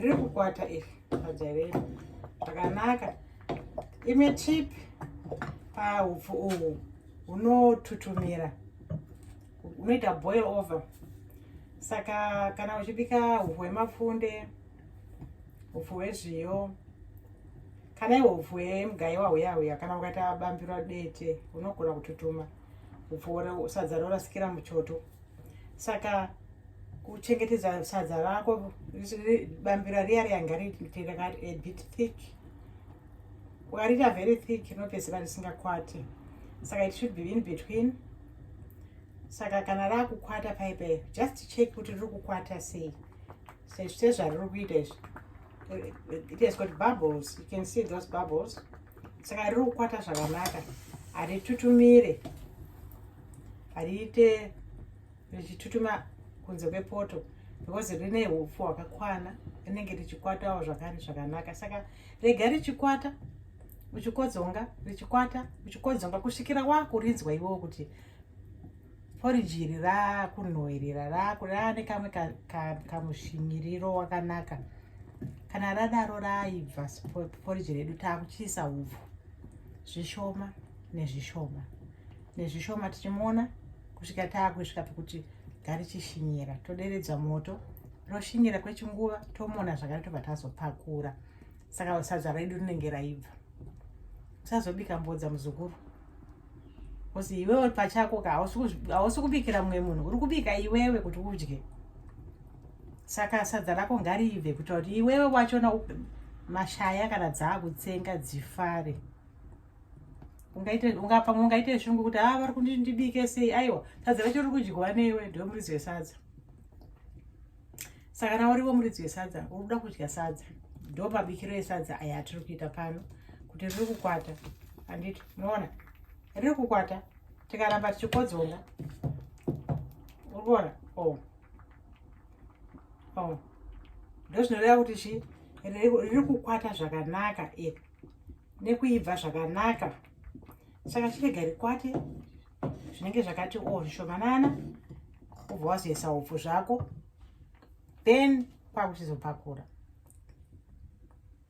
riri kukwata iri pajaireri zvakanaka imwe chip pahupfu uhu hunotutumira unoita boil over saka kana uchibika hupfu hwemapfunde hupfu hwezviyo kana iwo hupfu hwemugaiwa huya huya kana ukaita bambiro dete unogona kututuma hupfu sadza rorasikira muchoto saka kuchengetedza sadza rako bambira riya riya ngariite rakati a bit thick ukariita very thick rinopedzeka risingakwati saka it should be in between saka kana rakukwata paipe just check kuti riri kukwata sei sezvariri kuita izvi it has got bubbles you can see those bubbles saka riri kukwata zvakanaka haritutumire hariite richitutuma kunze kwepoto because rine upfu hwakakwana rinenge richikwatawo zvakare zvakanaka saka rega richikwata uchikodzonga richikwata uchikodzonga kusvikira wakurinzwa iwewo kuti poriji iri raakunhoerera raane kamwe kamushimiriro ka, ka wakanaka kana radaro raibva poriji redu taakuchiisa hubvu zvishoma nezvishoma nezvishoma tichimuona kusvika taakusvika pekuti garichishinyira toderedza moto roshinyira kwechinguva tomona zvakare tobva tazopakura saka sadza redu rinenge raibva usazobika mbodza muzukuru Kosi iwewe pachako ka hausi kubikira mumwe munhu uri kubika iwewe kuti udye saka sadza rako ngariibve kuitira kuti iwewe wachona mashaya kana dzaakutsenga dzifare pamwe ungaite shungu kuti haa ah, vari kundindibike sei aiwa sadza racho riri kudyiwa neiwe ndiwe murizi wesadza saka na uriwo muridzi wesadza uri kuda kudya sadza ndo mabikiro esadza aya atiri kuita pano kuti riri kukwata handiti unoona riri kukwata tikaramba tichikodzonga uri kuona o oh. o oh. ndo zvinoreva kuti chi riri kukwata zvakanaka iri nekuibva zvakanaka saka chirega rikwate zvinenge zvakati o oh, zvishomanana ubva wazoisa hupfu zvako then kwakuchizopakura